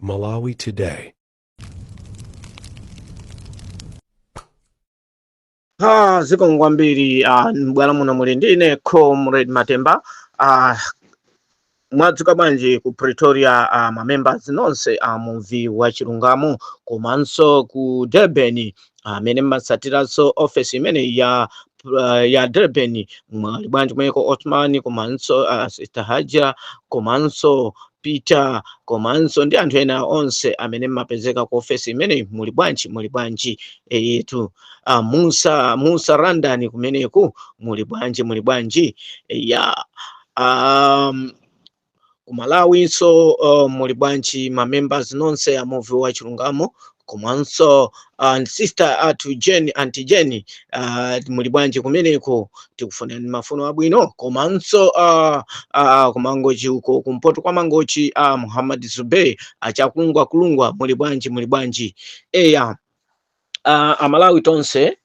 Malawi Today. Ah, zikomo kwambiri ah, m'bwalo muno muli ndine comrade matemba ah, mwadzuka bwanji ku pretoria ah, mamembers nonse a muvi wa chilungamo komanso ku durban amene mmatsatiranso ofesi imeneyi ya uh, ya Durban mwali bwanji kumeneko Othman komanso uh, Sister Haja komanso Peter komanso ndi anthu ena onse amene mmapezeka ku ofesi imeneyi muli bwanji muli bwanji eyetu uh, Musa Musa Randani kumeneku muli bwanji muli bwanji ya um, ku malawinso uh, muli bwanji ma members nonse a muvi wa chilungamo komanso uh, sister athu jeni anti jeni uh, muli bwanji kumeneko tikufunirani mafuno abwino komanso uh, uh, kumangochi uko kumpoto kwa mangochi uh, muhammad zubey achakulungwakulungwa muli bwanji muli bwanji eya uh, amalawi tonse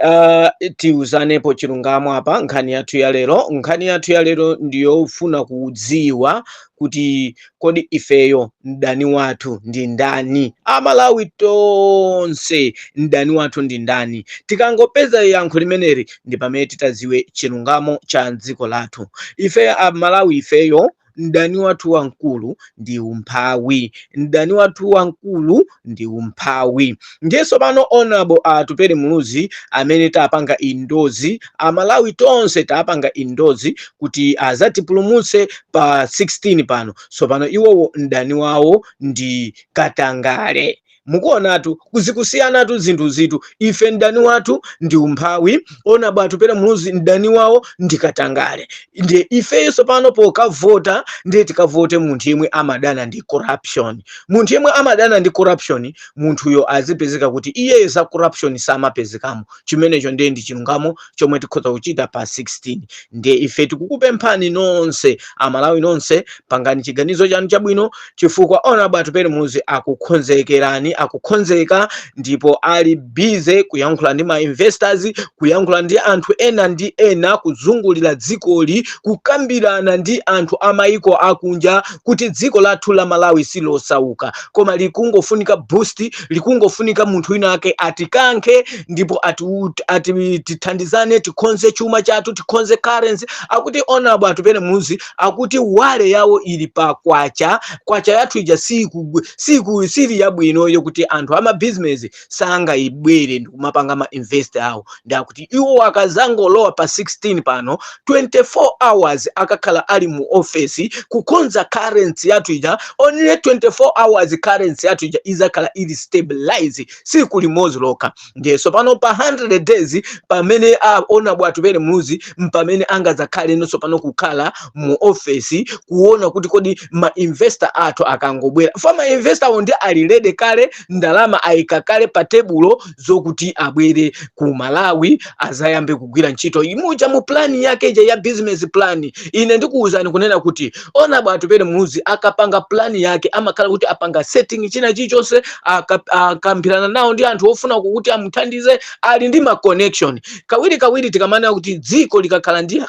uh, tiuzanepo chilungamo apa nkhani yathu ya lero nkhani yathu ya lero ndiyofuna kudziwa kuti kodi ifeyo mdani wathu ndi ndani amalawi tonse mdani wathu ndi ndani tikangopeza yankho limeneli ndi pamene titaziwe chilungamo cha dziko lathu ife amalawi ifeyo mdani wathu wamkulu ndi umphawi mdani wathu wamkulu ndi umphawi ndiye tsopano honorable atupere muluzi amene tapanga endorse amalawi tonse tapanga endorse kuti azatipulumutse pa 16 pano tsopano iwowo mdani wawo ndi katangale Mukuonatu, zikusiyanatu zinthuzitu. Ife mdani wathu ndi umphawi, honorable atupele muluzi mdani wawo ndi katangale. Ndiye ifeyo tsopano pokavota ndiye tikavote munthu yemwe amadana ndi corruption. Munthu yemwe amadana ndi corruption, munthuyo azipezeka kuti iyeyo za corruption samapezekamo. Chimenecho ndiye ndi chilungamo chomwe tikhoza kuchita pa 16 ndiye ife tikukupemphani nonse amalawi nonse pangani chiganizo chanu chabwino chifukwa honorable atupere muluzi akukhonzekerani akukhonzeka ndipo ali busy kuyankhula ndi ma investors kuyankhula ndi anthu ena ndi ena kuzungulira dzikoli kukambirana ndi anthu amayiko akunja kuti dziko lathu la malawi silosauka koma likungofunika boost likungofunika munthu wina ake atikankhe ndipo ati, ati tithandizane tikhonze chuma chathu tikhonze currency akuti honorable atupele muluzi akuti worry yawo ili pa kwacha kwacha yathu ija siku siku sili yabwino yokuti anthu amabizinesi sangabwere ndikumapanga ma invest awo ndi akuti iwo akazangolowa pa 16 pano 24 hours akakhala ali mu ofesi kukonza currency yathu ija only 24 hours currency yathu ija izakhala ili stabilize siku limodzi lokha ndiye tsopano pa 100 days pamene a honourable atupele muluzi mpamene angazakhaleno tsopano kukhala mu ofesi kuona kuti kodi ma investor athu akangobwera fa ma investor wo ndi ali ready kale ndalama ayika kale pa tebulo zokuti abwere ku malawi azayambe kugwira ntchito imuja mu plani yake ija ya business plan ine ndikuwuzani kunena kuti honourable atupele muluzi akapanga plani yake amakhala kuti apanga setting china chilichonse aka- akambirana nawo ndi anthu ofuna kuti amuthandize ali ndi ma connection kawiri kawiri tikamanena kuti dziko likakhala ndi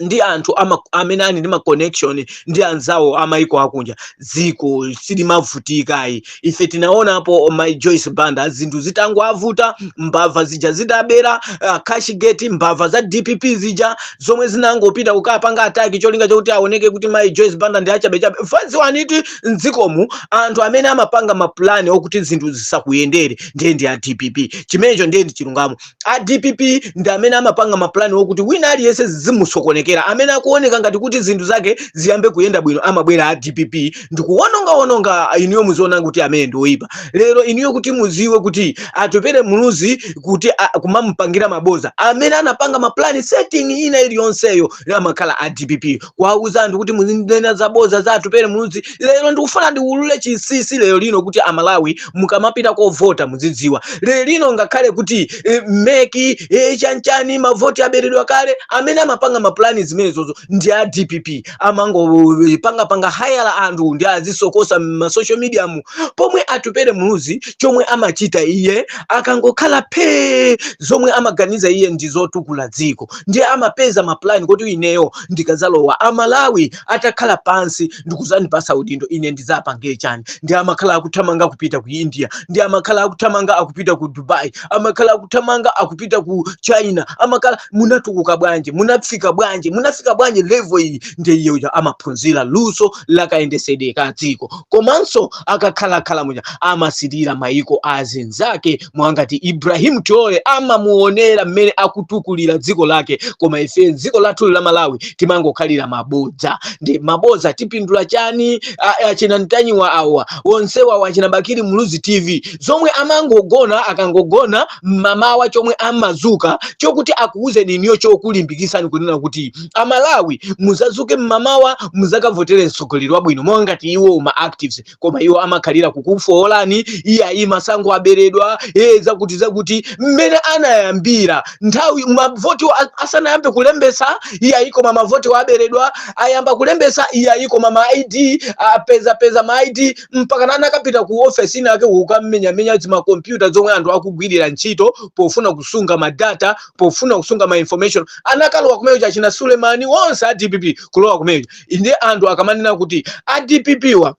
ndi anthu ama, amene ali ndi ma connection ndi anzawo amaiko akunja dziko silimavutika ayi ife tinaonapo mai joyce banda zinthu zitangoavuta mbava zija zitabera uh, cashgate mbava za dpp zija zomwe zinangopita kukapanga attack cholinga chokuti aoneke kuti mai joyce banda ndi achabechabe fa ziwani kuti mdzikomu anthu amene amapanga mapulani okuti zinthu zisakuyendere ndiye ndi a dpp chimenecho ndiye ndi chilungamo a dpp ndi amene amapanga mapulani okuti wina aliyense zizimusokonekera amene akuoneka ngati kuti zinthu zake ziyambe kuyenda bwino amabwera a dpp ndikuwonongawononga inuyo muziona kuti amene ndi oyipa lero inuyo kuti muziwe kuti atupere muluzi kuti a- kumamupangira maboza amene anapanga mapulani setting ina iliyonseyo amakhala a dpp kuwauza anthu kuti muzinena zaboza za atupele muluzi lero ndikufuna ndiulule chinsinsi lero lino kuti amalawi mukamapita kovota muzidziwa lero lino ngakhale kuti eh, mec eh, chanchani mavoti aberedwa kale amene amapanga mapulani zimenezozo ndi a dpp amangopangapanga hayala anthu ndi azisokosa mmasocial media mu pomwe atupele muluzi chomwe amachita iye akangokhala phee zomwe amaganiza iye ndi zotukula dziko ndiye amapeza mapulani kuti ineyo ndikadzalowa amalawi atakhala pansi ndikuzandipasa udindo ine ndidzapange chani ndiye amakhala akuthamanga kupita ku india ndiye amakhala akuthamanga akupita ku dubai amakhala akuthamanga akupita ku china amakhala munatukuka bwanji munafika bwanji munafika bwanji level iyi ndiye iyeyo amaphunzira luso lakayendesedwe ka dziko komanso akakhalakhala muja amasirira mayiko azinzake monga ngati ibrahim traore amamuonera mmene akutukulira dziko lake koma ife dziko lathu la malawi timangokhalira mabodza ndi mabodza tipindula chani A- achina ntanyiwa awa onsewawa achina bakiri muluzi tv zomwe amangogona akangogona mmamawa chomwe amazuka chokuti akuwuzeni inuyo chokulimbikisani kunena kuti amalawi muzazuke mmamawa muzakavotere mtsogoleri wabwino monga ngati iwo ma activists koma iwo amakhalira kukufoolani iye ayi masankho aberedwa e zakuti zakuti mmene anayambira nthawi mavoti asanayambe kulembesa iye ayi koma mavoti aberedwa ayamba kulembesa iye ayi koma ma id apezapeza ma id mpakana anakapita ku ofesi ina yake kukamenyamenya zimakompyuta zomwe anthu akugwirira ntchito pofuna kusunga madata pofuna kusunga ma information anakalowa kumeyo achina sulemani onse a dpp kulowa kumeyo nde anthu akamanena kuti a dpp wa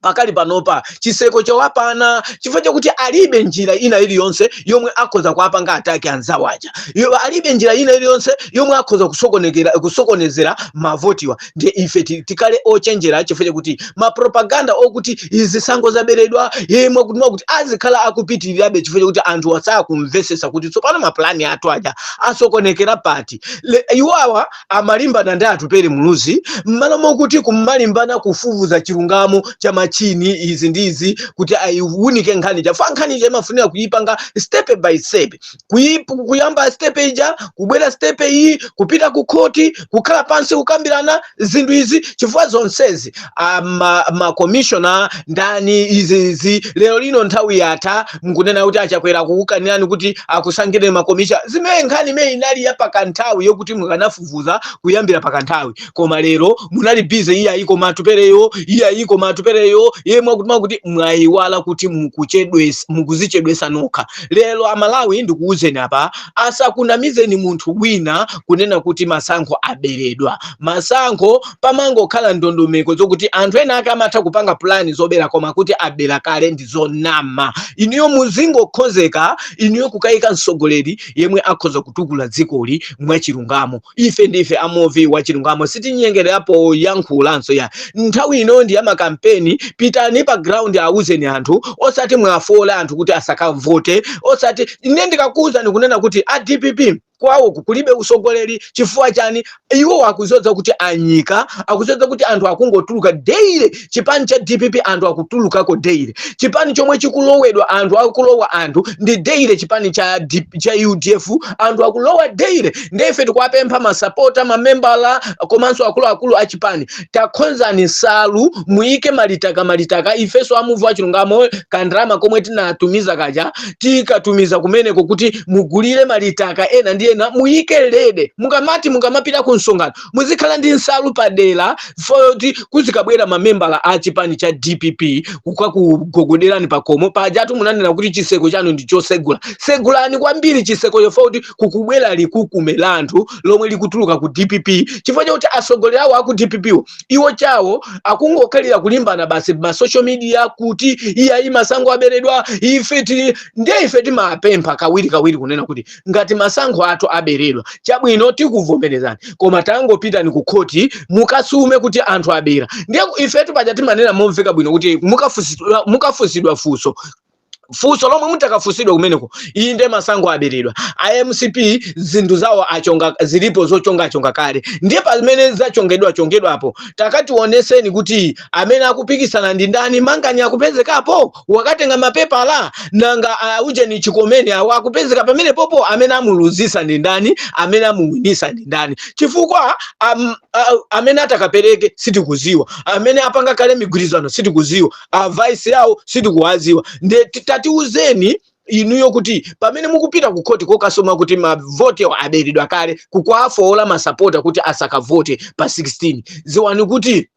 pakali panopa chiseko chawapana chifukwa chakuti alibe njira ina iliyonse yomwe akhoza kuwapanga ataki anzawo aja alibe njira ina iliyonse yomwe akhoza kusokonezera mavotiwa nde ife tikhale ochenjera chifukwa chakuti mapropaganda okuti zisankho zaberedwa iye mwakuti mwakuti azikhala akupitirirabe chifukwa chakuti anthu asakumvesesa kuti tsopano mapulani athu aja asokonekera pati iwawa amalimbana ndi Atupele Muluzi mmalo mokuti kumalimbana kufufuza chilungamo cha machini izi ndi izi kuti ayiwunike nkhani ija fa nkhani ija imafunika kuyipanga step by step kuyamba step ija kubwera step iyi kupita ku khoti kukhala pansi kukambirana zinthu izi chifukwa zonsezi makomishona ndani izi izi lero lino nthawi yatha mukunena kuti achakwera akukukanirani kuti akusankhireni makomishona zimene nkhani imene inali ya pakanthawi yokuti mukanafufuza kuyambira pakanthawi koma lero munali bize iye ayi koma Atupeleyo iye ayi koma Atupeleyo iye mwakuti mwakuti mwayiwala kuti mukuzichedwesa nokha lero amalawi ndikuwuzeni apa asakunamizeni munthu wina kunena kuti masankho aberedwa masankho pamangokhala ndondomeko zokuti anthu ena ake amatha kupanga pulani zobera koma kuti abera kale ndi zonama inuyo muzingokhonzeka inuyo kukayika mtsogoleri yemwe akhoza kutukula dzikoli mwachilungamo ife ndife amuvi wachilungamo sitinyengerera poyankhulanso ya nthawi ino ndi yamakampeni pitani pa ground awuzeni anthu osati mwafoole anthu kuti asakavote osati ine ndikakuwuzani kunena kuti a dpp kwawo kulibe usogoleri chifukwa chani iwo akuzodza kuti anyika akuzodza kuti anthu akungotuluka daily chipani cha dpp anthu akutulukako daily chipani chomwe chikulowedwa anthu akulowa anthu ndi daily chipani cha udf anthu akulowa daily ndefe tikuwapempha masapota mamembala komanso akuluakulu a chipani takhonzani nsalu muyike malitaka malitaka ifeso amuvi wachilungamo kandrama komwe tinatumiza kaja tikatumiza kumeneko kuti mugulire malitaka ena ndi ena muyike lede mukamati mukamapita ku msonkhano muzikhala ndi nsalu padera foti kuzikabwera mamembala a chipani cha dpp kukakugogoderani pakomo pajatu munanena kuti chiseko chanu ndi chosegula segulani kwambiri chisekocho foti kukubwera likukume la anthu lomwe likutuluka ku dpp chifukwa chakuti atsogoleri awo aku dpp iwo chawo akungokhalira kulimbana basi ma social media kuti iyayi masankho aberedwa ife tili ndiye ife timapempha kawiri kawiri kunena kuti ngati masankho athu aberedwa chabwino tikuvomerezani koma tangopitani ku khoti mukasume kuti anthu abera ndiye ifetu paja timanena momveka bwino kuti mukafusidwa mukafusidwa funso funso lomwe mutakafunsidwa kumeneko iyi nde masankho aberedwa a mcp zinthu zawo achonga zilipo zochongachonga kale ndiye pamene zachongedwa chongedwapo takationeseni kuti amene akupikisana ndi ndani manganya akupezekapo wakatenga mapepala nanga uh, ujeni chikomeni awo akupezeka pamenepopo amene amuluzisa ndi ndani amene amuwinisa ndi ndani chifukwa um, uh, amene atakapereke sitikuziwa amene apanga kale mgwirizano sitikuziwa a vice yawo sitikuwaziwa nde tatiuzeni inuyo kuti pamene mukupita ku khoti kokasuma kuti mavoti aberedwa kale kukawafowola masapota kuti asakavote pa 16 ziwani kuti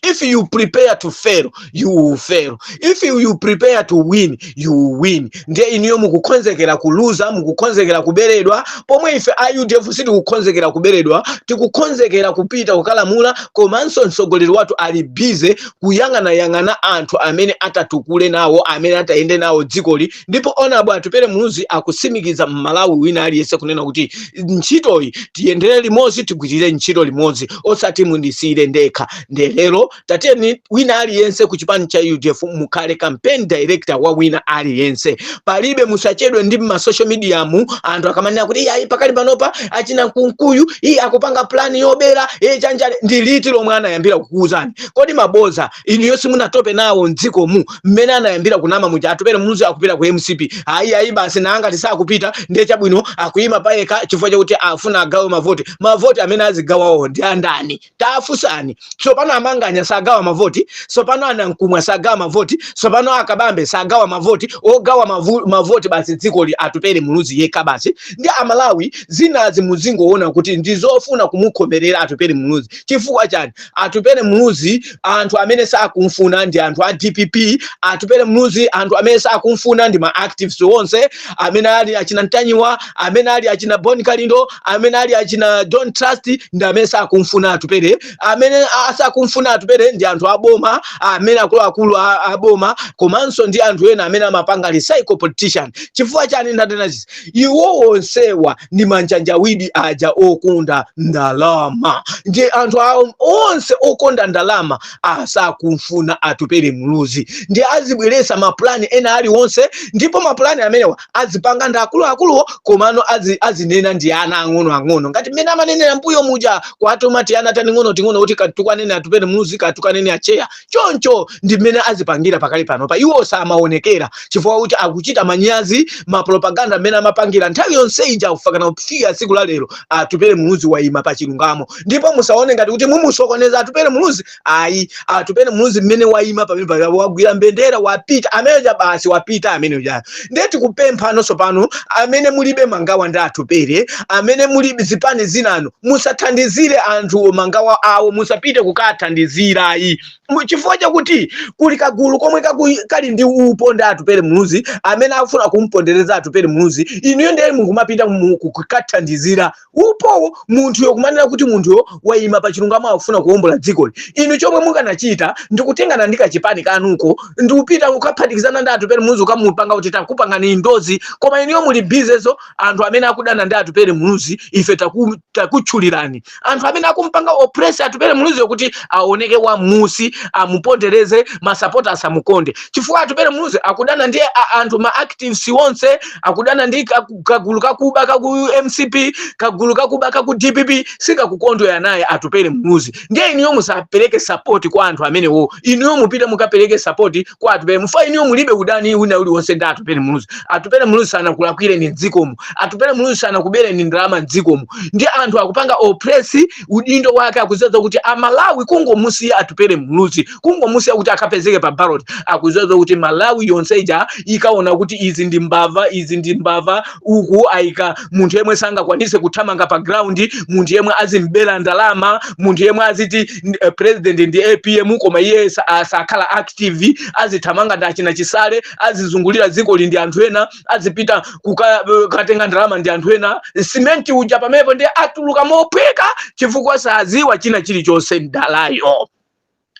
if you prepare to fail you will fail if you prepare to win you will win ndiye inuyo mukukonzekera kuluza mukukonzekera kuberedwa pomwe ife a udf sitikukonzekera kuberedwa tikukonzekera kupita kukalamula komanso mtsogoleri wathu ali busy kuyang'anayang'ana anthu amene atatukule nawo amene atayende nawo dzikoli ndipo honourable atupele muluzi akutsimikiza mmalawi wina aliyense kunena kuti ntchitoyi tiyendere limodzi tigwirire ntchito limodzi osati mundisiyire ndekha nde lero titeni wina aliyense ku chipani cha udf mukhale campaign director wa wina aliyense palibe musachedwe ndi ma social mediamu anthu akamanena kuti iyayi pakali panopa achina kunkuyu iyi akupanga plani yobera iye chanjani ndi liti lomwe anayambira kukuuzani kodi maboza inuyo simunatope nawo mdzikomu mmene anayambira kunama muja atupele muluzi akupita ku mcp ayi ayi basi nangati sakupita ndiye chabwino akuyima payekha chifukwa chakuti afuna agawe mavoti mavoti amene azigawawo ndi andani tafusani tsopano amanganya sagawa mavoti tsopano anankumwa sagawa mavoti tsopano akabambe sagawa mavoti ogawa mavu, mavoti basi dzikoli atupele muluzi yekha basi ndi amalawi zinazi muzingoona kuti ndizofuna kumukhomerera atupele muluzi chifukwa chani atupele muluzi anthu amene sakumfuna ndi anthu a dpp atupele muluzi anthu amene sakumfuna ndi ma activists onse amene ali achina ntanyiwa amene ali achina bon kalindo amene ali achina don't trust ndi amene sakumfuna atupele amene asakumfuna atupele ndi anthu aboma amene akuluakulu a- aboma komanso ndi anthu ena amene amapanga recycled politician chifukwa chani ndanena izi iwo onsewa ndi manjanjawidi aja okonda ndalama ndi anthu onse okonda ndalama asakumfuna atupele muluzi ndi azibweresa mapulani ena aliwonse ndipo mapulani amenewa azipanga ndi akuluakuluwo komano azi- azinena ndi ana ang'onoang'ono ngati mmene amanenera mbuyo muja kuwatuma tiana tating'onoting'ono kuti katukwaneni atupele muluzi katukwaneni acheya choncho ndi mmene azipangira pakali panopa iwo samaonekera chifukwa kuti akuchita manyazi mapropaganda mmene amapangira nthawi yonse ija kufikana kufika tsiku la lero atupele muluzi waima pa chilungamo ndipo musaone ngati kuti mumusokoneza atupele muluzi ayi atupele muluzi mmene waima pamenepa wagwira mbendera wapita amene uja basi wapita amene uja ndiye tikupempha nonse pano amene mulibe mangawa ndi atupele amene muli mzipani zinanu musathandizire anthu mangawa awo musapite kukathandizira ayi Mu- chifukwa chakuti kuli kagulu komwe kaku- kali ndi upo ndi atupele muluzi amene akufuna kumpondereza atupele muluzi inuyo ndiye mukumapita mu- kukathandizira upo munthuyo kumanena kuti munthuyo waima pa chilungamo akufuna kuwombola dzikoli inu chomwe mukanachita ndikutengana ndi kachipani kanuko ndikupita kukaphatikizana ndi atupele muluzi kukamupanga kuti takupangani indozi koma inuyo muli bize ndi anthu amene akudana ndi atupele muluzi ife taku- takutchulirani anthu amene akumpanga oppress atupele muluziyo kuti aoneke wa munsi amupondereze masapota asamukonde chifukwa atupele muluzi akudana ndi a- anthu ma activists onse akudana ndi kagulu kakuba kaku mcp kagulu kakuba kaku dpp sikakukondwera naye atupele muluzi ndiye inuyo musapereke sapoti kwa anthu amenewo inuyo mupite mukapereke sapoti kwa atupele chifukwa inuyo mulibe udani wina uliwonse ndi atupele muluzi atupele muluzi sanakulakwireni mdzikomo atupele muluzi sanakubereni ndalama mdzikomo ndiye anthu akupanga opresi udindo wake akuziwa zakuti amalawi kungomusiya atupele muluzi kungomusiya kuti akapezeke pa ballot akuziwa zakuti malawi yonse ija ikaona kuti izi ndi mbava izi ndi mbava uku aika munthu yemwe sangakwanise kuthamanga pa ground munthu yemwe azimbera ndalama munthu yemwe aziti n- eh, president ndi apm koma iye sa- asakhala active azithamanga ndi achina chisale azizungulira dzikoli ndi anthu ena azipita kukatenga ndalama ndi anthu ena simenti uja pamenepo ndiye atuluka mophweka chifukwa saziwa china chilichonse mdalayo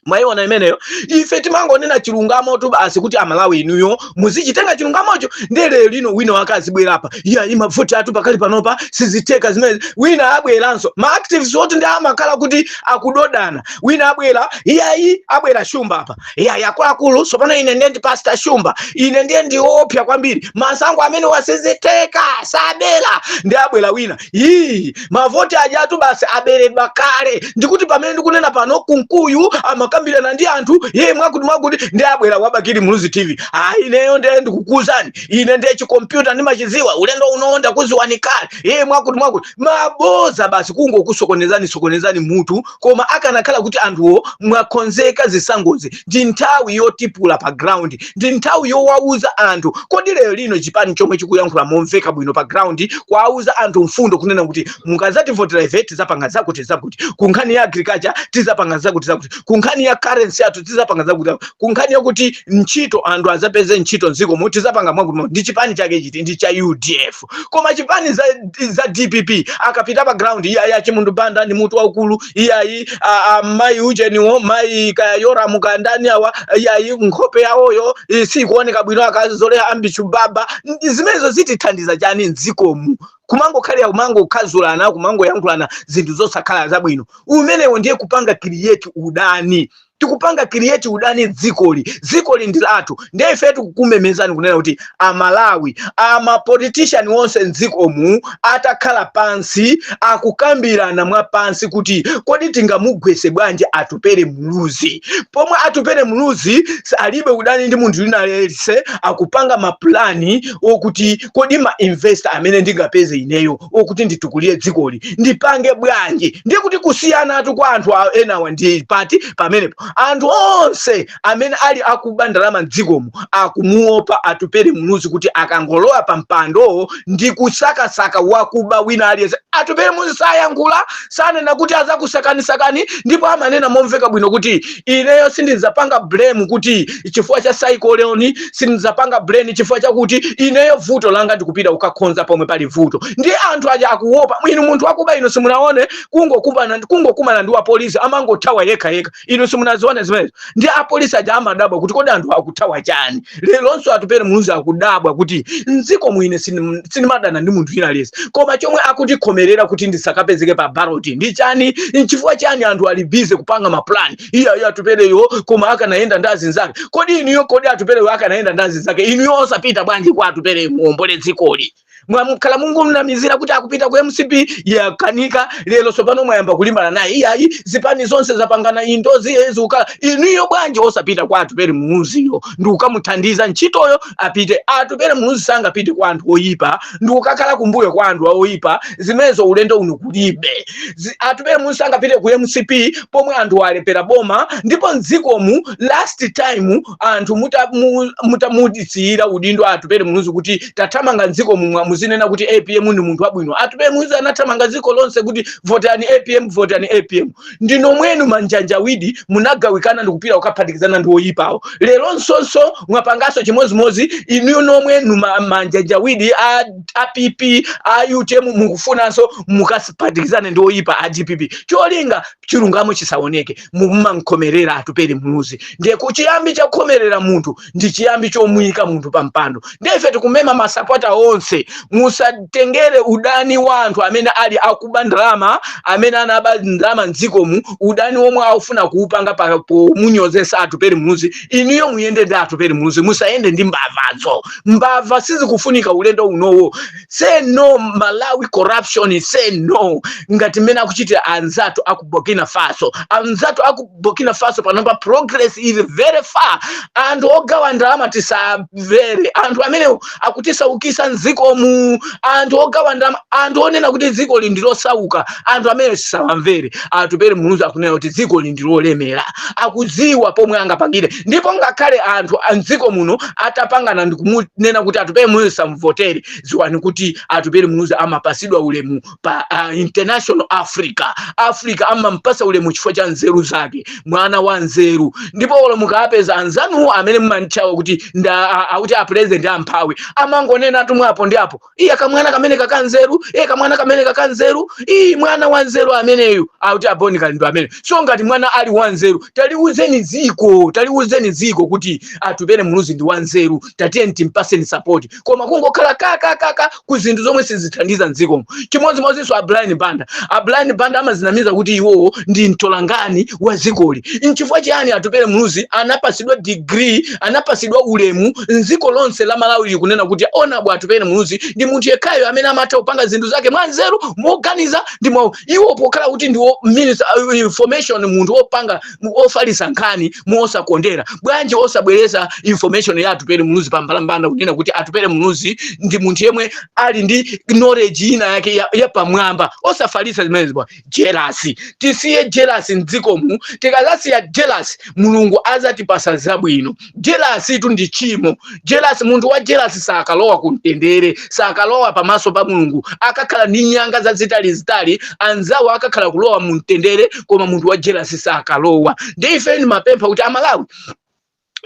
mwaiona imeneyo ife timangonena chilungamotu basi kuti amalawi inuyo muzichitenga chilungamocho ndiye lerolino wina wake azibwera apa iyayi mavoti athu pakali panopa sizitheka zimene wina abweranso ma activists oti ndiye amakhala kuti akudodana wina abwera iyayi abwera shumba apa eya akuluakulu tsopano ine ndiye ndi pastor shumba ine ndiye ndiopsa kwambiri masankho amenewa sizitheka sabera ndiye abwera wina iyi mavoti ajatu basi aberedwa kale ndikuti pamene ndikunena pano kunkuyu amakambirana ndi anthu yeye mwakuti mwakuti ndiye abwera wabakili muluzi tv ah ineyo ndiye ndikukuuzani ine ndiye chikompyuta ndimachiziwa ulendo uno ndakuziwani kale yeye mwakuti mwakuti maboza basi kungokusokonezani sokonezani mutu koma akanakhala kuti anthuwo mwakonzeka zisangozi ndi nthawi yotipula pa ground ndi nthawi yowauza anthu kodi lero lino chipani chomwe chikuyankhula momveka bwino pa ground kuwauza anthu mfundo kunena kuti mukazativotera ife tizapanga zakuti zakuti ku nkhani ya agriculture tizapanga zakuti zakuti ku nkhani ya currency yathu tizapanga zakuti zakuti. ku nkhani yakuti ntchito anthu azapeze ntchito mdziko mu tizapanga mwakuti ndi chipani chake chiti ndi cha udf koma chipani za, za dpp akapita pa ground iyayi achimundu banda ni mutu waukulu iyayi a- a- mayi ujeniwo mayi kaya yoramu kaya ndani awa iyayi nkhope yawoyo eh, sikuoneka bwino akazole ambi baba N- zimenezo zitithandiza chani mdzikomu kumangokhalira kumangokhazulana kumangoyankhulana zinthu zosakhala zabwino kumeneko ndiye kupanga create udani tikupanga create udani dzikoli dzikoli ndi lathu ndiye ife tikukumemezani kunena kuti amalawi amapolitishani onse mdzikomu atakhala pansi akukambirana mwa pansi kuti kodi tingamugwese bwanji atupere muluzi pomwe atupere muluzi alibe udani ndi munthu winaliyese akupanga mapulani okuti kodi ma investor amene ndingapeze ineyo okuti nditukulire dzikoli ndipange bwanji ndiye kuti kusiyanatu kwa anthu a- enawa ndi pati pamenepo anthu onse amene ali akuba ndalama mdzikomu akumuopa atupere muluzi kuti akangolowa pa mpando ndi kusakasaka wakuba wina aliyense atupere muluzi sayankhula sanena kuti azakusakanisakani ndipo amanena momveka bwino kuti ineyo sindidzapanga blame kuti chifukwa cha cyclone sindidzapanga blame chifukwa chakuti ineyo vuto langa ndikupita kukakhonza pomwe pali vuto ndi anthu aja akuopa inu munthu wakuba inu simunaone kungokumana kungokumana ndi wapolisi amangothawa yekha yekha inu simunazione zimenezo ndi apolisi aja amadabwa kuti kodi anthu akuthawa chani leronso atupere muluzi akudabwa kuti mdziko muno ine sinim- sinimadana ndi munthu winaliyese koma chomwe akundikhomerera kuti ndisakapezeke pa baloti ndi chani nchifukwa chani anthu ali bize kupanga mapulani iyayi atupereyo koma akanayenda ndi azinzake kodi inuyo kodi atupereyo akanayenda ndi azinzake inuyo osapita bwanji kwa atupereyo muombole dzikoli mwakhala mukumnamizira kuti akupita ku mcp yakanika lero tsopano mwayamba kulimbana naye iyayi zipani zonse zapangana endorse zeziwukala inuyo bwanji osapita kwa atupere muluziyo ndi kukamuthandiza ntchitoyo apite atupere muluzi sangapite kwa anthu oyipa ndi kukakhala kumbuyo kwa anthu oyipa zimenezo ulendo uno kulibe Zi- atupere muluzi sangapite ku mcp pomwe anthu alephera boma ndipo mdzikomu last time anthu mutamu- mutamusiyira udindo atupele muluzi kuti tathamanga mdzikomu mwa muzinena kuti apm ndi munthu wabwino atupele muluzi anathamanga dziko lonse kuti votani apm votani apm ndi nomwenu manjanjawidi munagawikana ndikupita kukaphatikizana ndi oyipawo lero nsonso mwapanganso chimodzimodzi inu nomwenu ma- manjanjawidi a, a pp a utm mukufunanso mukaphatikizane ndi oyipa a dpp cholinga chilungamo chisaoneke mumamkhomerera atupele muluzi ndiye kuchiyambi cha kukhomerera munthu ndi chiyambi chomuyika munthu pa mpando ndiye ife tikumema masapota onse musatengere udani wa anthu amene ali akuba ndalama amene anaba ndalama mdzikomu udani womwe akufuna kuupanga pa- pomunyozesa atupele muluzi inuyo muyende ndi atupele muluzi musayende ndi mbavazo mbava sizikufunika ulendo unowo say no malawi corruption say no ngati mmene akuchitira anzathu aku burkina faso anzathu aku burkina faso panopa progress is very far anthu ogawa ndalama tisamvere anthu amenewo akutisaukisa mdzikomu anthu ogawa ndalama anthu onena kuti dzikoli ndi losauka anthu amenewo tisawamvere atupele muluzi akunena kuti dzikoli ndi lolemera akudziwa pomwe angapangire ndipo ngakhale anthu a mdziko muno atapangana ndikumunena kuti atupele muluzi samvotere ziwani kuti atupele muluzi amapasidwa ulemu pa uh, international africa africa amampasa ulemu chifukwa cha nzeru zake mwana wa nzeru ndipo olo mukapeza anzanuwo amene mumantchawa kuti nda a- akuti a president amphawi amangonenatu mwa apo ndi apo iye kamwana kamene kakanzeru iye kamwana kamene kakanzeru iyi mwana wanzeru ameneyu akuti a bon kalindo amene so ngati mwana ali wanzeru taliuzeni ziko taliuzeni ziko kuti atupele muluzi ndi wanzeru tatiyeni timpaseni sapoti koma kungokhala kakakaka ku zinthu zomwe sizithandiza mdzikomo chimodzimodzinso a brian banda a brian banda amazinamiza kuti iwowo ndi mtolankhani wa zikoli nchifukwa chiyani atupele muluzi anapasidwa degree anapasidwa ulemu dziko lonse la Malawi likunena kuti honourable atupele muluzi ndi munthu yekhayo amene amatha kupanga zinthu zake mwanzeru moganiza ndi mwa iwo pokhala kuti ndi minister of information munthu opanga ofalisa nkhani mosakondera bwanji osabweresa information ya atupele muluzi pa mbalambanda kunena kuti atupele muluzi ndi munthu yemwe ali ndi knowledge ina yake ya, ya pamwamba osafalisa zimenezi bwa jelasi tisiye jelasi mdzikomu tikazasiya jelasi mulungu azatipasa zabwino jelasitu ndi tchimo jelasi munthu wa jelasi sakalowa kumtendere sakalowa pamaso pa mulungu akakhala ndi nyanga zazitalizitali anzawo akakhala kulowa mumtendere koma munthu wa jelasi sakalowa ndiye ife ndimapempha kuti amalawi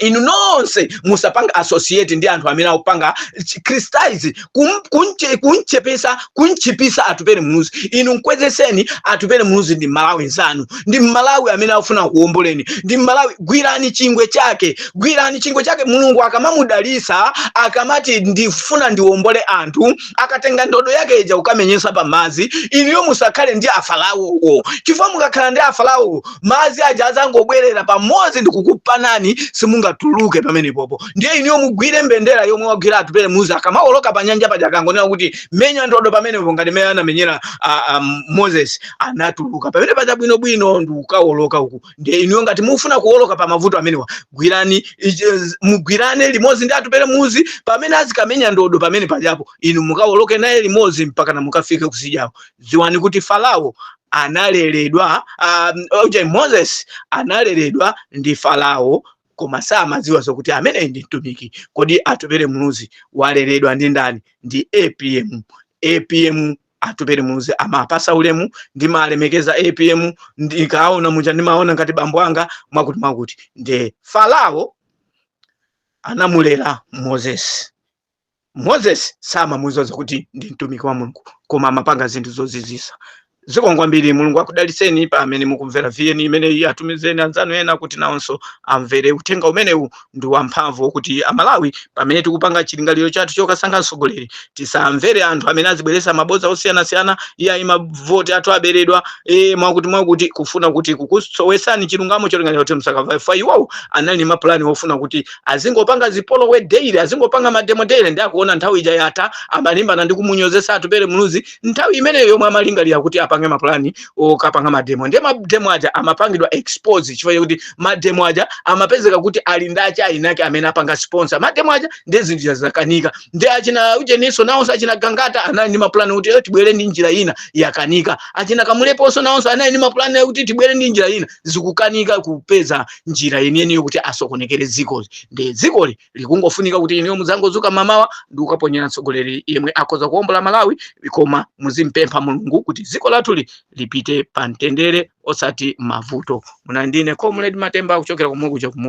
inu nonse musapanga associate ndi anthu amene akupanga criticize kum- kunche- kunchepesa kunchipisa atupere muluzi inu mkwezeseni atupere muluzi ndi mmalawi nzanu ndi mmalawi amene akufuna kuomboleni ndi mmalawi gwirani chingwe chake gwirani chingwe chake mulungu akamamudalisa akamati ndifuna ndiombole anthu akatenga ndodo yake ija kukamenyesa pa madzi inuyo musakhale ndi afaraowo chifukwa mukakhala ndi afaraowo madzi aja adzangobwerera pamodzi ndikukupanani simungatuluke pamenepopo ndiye inuyo mugwire mbendera yomwe wagwira atupere muluzi akamawoloka pa nyanja paja akangonena kuti menya ndodo pamenepo ngati mmene anamenyera ah, ah, moses anatuluka pamene paja bwinobwino ndikukawoloka uku ndiye inuyo ngati mufuna kuwoloka pa mavuto amenewa gwirani ichi- z- mugwirane limodzi ndi atupele muluzi pamene azikamenya ndodo pamene pajapo inu mukawoloke naye limodzi mpaka na mukafike kutsidyako dziwani kuti farao analeredwa um, okay, moses analeredwa ndi farao koma samadziwa zokuti ameneyi ndi mtumiki kodi atupele muluzi waleredwa ndi ndani ndi apm apm atupere muluzi amapasa ulemu ndimalemekeza apm ndikawaona muja ndimawaona ngati bambo anga mwakuti mwakuti nde farao anamulera moses moses samamudziwa kuti ndi mtumiki wa mulungu koma amapanga zinthu zozizwitsa zikomo kwambiri mulungu akudalitseni pa amene mukumvera vn imeneyi atumizeni anzanu ena kuti nawonso amvere uthenga umenewu ndi wamphamvu kuti amalawi pamene tikupanga chilingaliro chathu chokasankha mtsogoleri tisamvere anthu amene azibweretsa mabodza osiyanasiyana iyayi mavoti athu aberedwa e, mwakuti mwakuti kufuna kuti kukusowesani chilungamo cholingalira kuti musakavote iwowo anali ndi mapulani ofuna kuti azingopanga zipolowe daily azingopanga mademo daily nde akuona nthawi ija yatha amalimbana ndi kumunyozetsa atupere muluzi nthawi imeneyo yomwe amalingalira kuti apange mapulani okapanga mademo ndiye mademo aja amapangidwa expose chifukwa chakuti mademo aja amapezeka kuti ali ndi achina winake amene apanga sponsor mademo aja ndiye zinthu zakanika ndiye achina ujeninso nawonso achina gangata anali ndi mapulani kuti "Eh, tibwere ndi njira ina yakanika achina kamuleponso nawonso anali ndi mapulani akuti tibwere ndi njira ina zikukanika kupeza njira yeniyeni yokuti asokonekere dzikoli nde dzikoli likungofunika kuti inuyo mudzangodzuka mamawa ndi kukaponyera mtsogoleri yemwe akhoza kuombola malawi koma muzimupempha mulungu kuti dziko lathuli lipite pa mtendere osati mavuto munali ndi ine comrade matemba kuchokera komwe kuja kumu